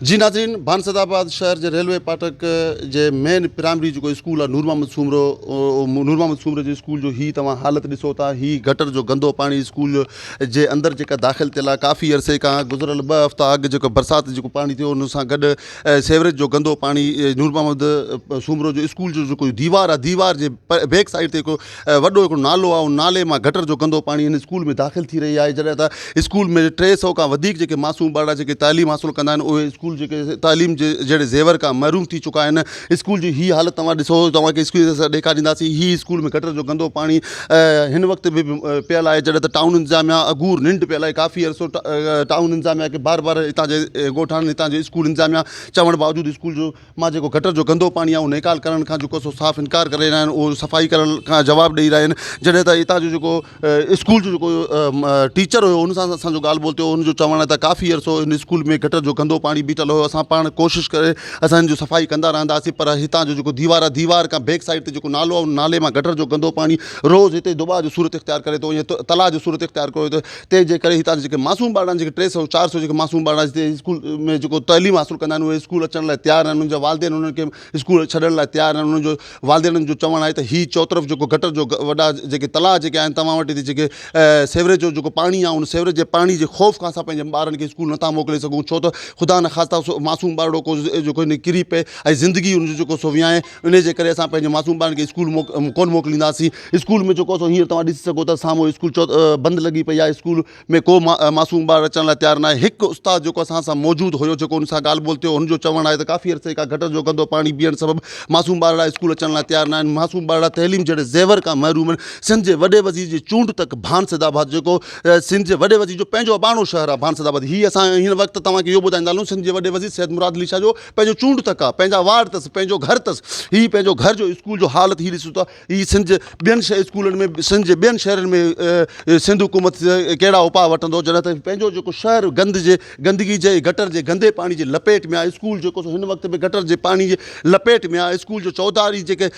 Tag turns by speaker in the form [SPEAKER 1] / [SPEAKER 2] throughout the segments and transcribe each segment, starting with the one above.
[SPEAKER 1] جي ناظرين بانسد آباد شهر جي ريلوي پاٽڪ جي مين پرائمري جيڪو اسڪول آهي نور محمد سومرو نور محمد سومرو جي اسڪول جو هي توهان حالت ڏسو ٿا هي گٽر جو گندو پاڻي اسڪول جو جي اندر جيڪا داخل ٿيل آهي ڪافي عرصي کان گذريل ٻه هفتا اڳ جيڪو برسات جيڪو پاڻي ٿيو ان سان گڏ سيوريج جو گندو پاڻي نور محمد سومرو جو اسڪول جو جيڪو ديوار آهي ديوار جي بيڪ سائيڊ تي هڪ وڏو هڪڙو نالو آهي ان نالي مان گٽر جو گندو پاڻي ان اسڪول ۾ داخل ٿي رهي آهي جڏهن ته اسڪول ۾ ٽي سئو کان وڌيڪ جيڪي معصوم ٻارڙا جيڪي تعليم حاصل ڪندا آهن اهي اسڪول جيڪي تعليم جي جهڙي زيور کان محروم ٿي چڪا آهن اسڪول جي هي حالت توهان ڏسو توهان کي اسڪول اسان ڏيکارينداسين هي اسڪول ۾ گٽر جو گندو پاڻي هن وقت به پيل آهي جڏهن ته ٽائون انتظاميا اگور ننڊ پيل آهي ڪافي عرصو ٽائون انتظاميا کي بار بار هتان جي ڳوٺاڻن هتان جي اسڪول انتظاميا چوڻ باوجود اسڪول جو مان جيڪو گٽر جو گندو پاڻي آهي اهو نيڪال ڪرڻ کان جيڪو سو صاف انڪار ڪري رهيا آهن اهو صفائي ڪرڻ کان جواب ڏئي رهيا آهن جڏهن ته هتان جو جيڪو اسڪول جو جيڪو ٽيچر هيو ان سان اسانجو ڳالهه ٻولهه ٿيو ان جو چوڻ آهي ته ڪافي عرصو ان اسڪول ۾ گٽر جو گندو پاڻي بيٺل هيو اسان پاڻ ڪوشش ڪري اسان ان جو صفائي ڪندا رهنداسين پر هتان جو جيڪو ديوار آهي ديوار کان بيڪ سائيڊ تي جيڪو نالو آهي ان نالي مان گٽر جو گندو پاڻي روز هتي دٻاء جو صورت اختيار ڪري ٿو ائين تلاء جو صورت اختيار ڪري ٿو تنهن جي ڪري هتان جا جيڪي معصوم ٻارڙا آهن، جيڪي ٽي سؤ چار سؤ جيڪي معصوم ٻارڙا هتي اسڪول ۾ جيڪو تعليم حاصل ڪندا آهن اهي اسڪول اچڻ لاء تيار ناهن، انهن جا والدين انهن کي اسڪول ڇڏڻ لاء تيار ناهن، انهن جو والدينن جو چوڻ آهي ته هي چوطرف جيڪو گٽر جو وڏا جيڪي تلاء جيڪي آهن توهان وٽ هتي جيڪي سيوريج جو جيڪو پاڻي آهي ان سيوريج جي پاڻي جي خوف کان اسان پنهنجن ٻارن کي اسڪول نٿا موڪلي سگهون ڇو ته خدا نخواسته معصوم ٻارڙو ڪو جيڪو هن ڪري پئي ۽ زندگي ان جو جيڪو سو ويهائين انهيء جي ڪري اسان پنهنجي معصوم ٻارن کي اسڪول ڪونه موڪلينداسين. اسڪول ۾ جيڪو اسان هينئر توهان ڏسي سگهو ٿا سامهون اسڪول بند لڳي پئي آهي. اسڪول ۾ ڪو معصوم ٻار اچڻ لاء تيار ناهي. هڪ استاد جيڪو اسان سان موجود هيو جيڪو ان سان ڳالهه ٻولهه ٿيو هن جو چوڻ آهي ته ڪافي عرصي کان گٽر جو گندو پاڻي بيهڻ سبب معصوم ٻارڙا اسڪول اچڻ لاء تيار ناهن. معصوم ٻارڙا تعليم جهڙي زيور کان محروم آهن. سنڌ جي وڏي وزير جي چونڊ تڪ ڀان سيد آباد جيڪو سنڌ جي وڏي وزير جو پنهنجو اباڻو شهر آهي ڀان سيد آباد هي اسان هن وقت توهان کي اهو ٻڌائيندا هلون سنڌ جي وڏي وزير سيد مراد علي شاهه جو پنهنجو چونڊ تڪ آ پنهنجا وارڊ تس پنهنجو گهر تس هي پنهنجو گهر جو اسڪول جو حالت هي ڏسو ته هي سنڌ جي ٻين شهر اسڪولن ۾ سنڌ جي ٻين شهرن ۾ سنڌ حڪومت ڪهڙا اپاء وٺندو جڏهن ته پنهنجو جيڪو شهر گند جي گندگي جي گٽر جي گندي پاڻي جي لپيٽ ۾ آ اسڪول جيڪو سو هن وقت به گٽر جي پاڻي جي لپيٽ ۾ آ اسڪول جو چوڌاري جيڪي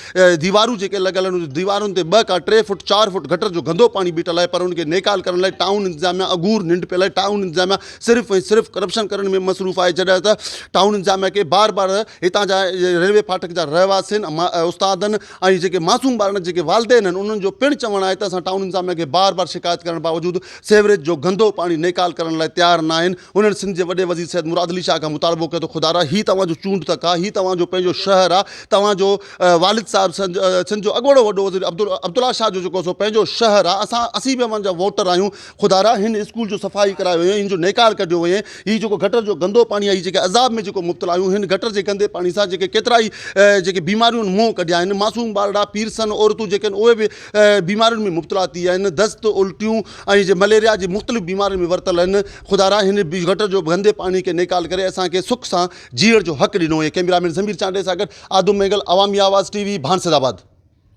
[SPEAKER 1] ديوارون جيڪي لڳل آهن ان ديوارن تي ٻه کا ٽي فوٽ چار فوٽ گٽر جو گندو پاڻي بيٺل آهي پر ان کي نيڪال ڪرڻ لاء ٽائون انتظاميا اگهور ننڊ پيل آهي ٽائون انتظاميا صرف ۽ صرف ڪرپشن ڪرڻ ۾ مصروف آهي جڏهن ته ٽائون انتظاميا کي بار بار هتان جا ريلوي ڦاٽڪ جا رهواسين استادن ۽ جيڪي معصوم ٻارڙن جا جيڪي والدين آهن انهن جو پڻ چوڻ آهي ته اسان ٽائون انتظاميا کي بار بار شڪايت ڪرڻ باوجود سيوريج جو گندو پاڻي نيڪال ڪرڻ لاء تيار ناهن انهن سنڌ جي وڏي وزير سيد مراد علي شاهه کان مطالبو ڪيو ته خدارا هي توهان جو چونڊ تڪ آهي هي توهان جو پنهنجو شهر آهي توهان جو والد صاحب سنڌ جو اڳوڻو وڏو وزير عبدالله شاهه جو جيڪو سو پنهنجو شهر آهي اسان اسين به اوهان جا ووٽر آهيون خدارا هن اسڪول جو صفائي ڪرائي ويئي هن جو نيڪار ڪڍيو ويئي هي جيڪو گٽر جو گندو پاڻي آهي هي جيڪي عذاب ۾ جيڪو مبتلا آهيون هن گٽر جي گندي پاڻي سان جيڪي ڪيترا ئي جيڪي بيماريون منهن ڪڍيا آهن معصوم ٻارڙا پيرسن عورتون جيڪي آهن اهي به بيمارين ۾ مبتلا ٿي آهن دست الٽيون ۽ جي مليريا جي مختلف بيمارين ۾ ورتل آهن خدارا هن گٽر جو گندي پاڻي کي نيڪال ڪري اسان کي سک سان جيئڻ جو حق ڏنو هئي ڪيمرا مين ضمير چانڊئي سان گڏ آدم مينگل عوامي آواز ٽي وي ڀانسد آباد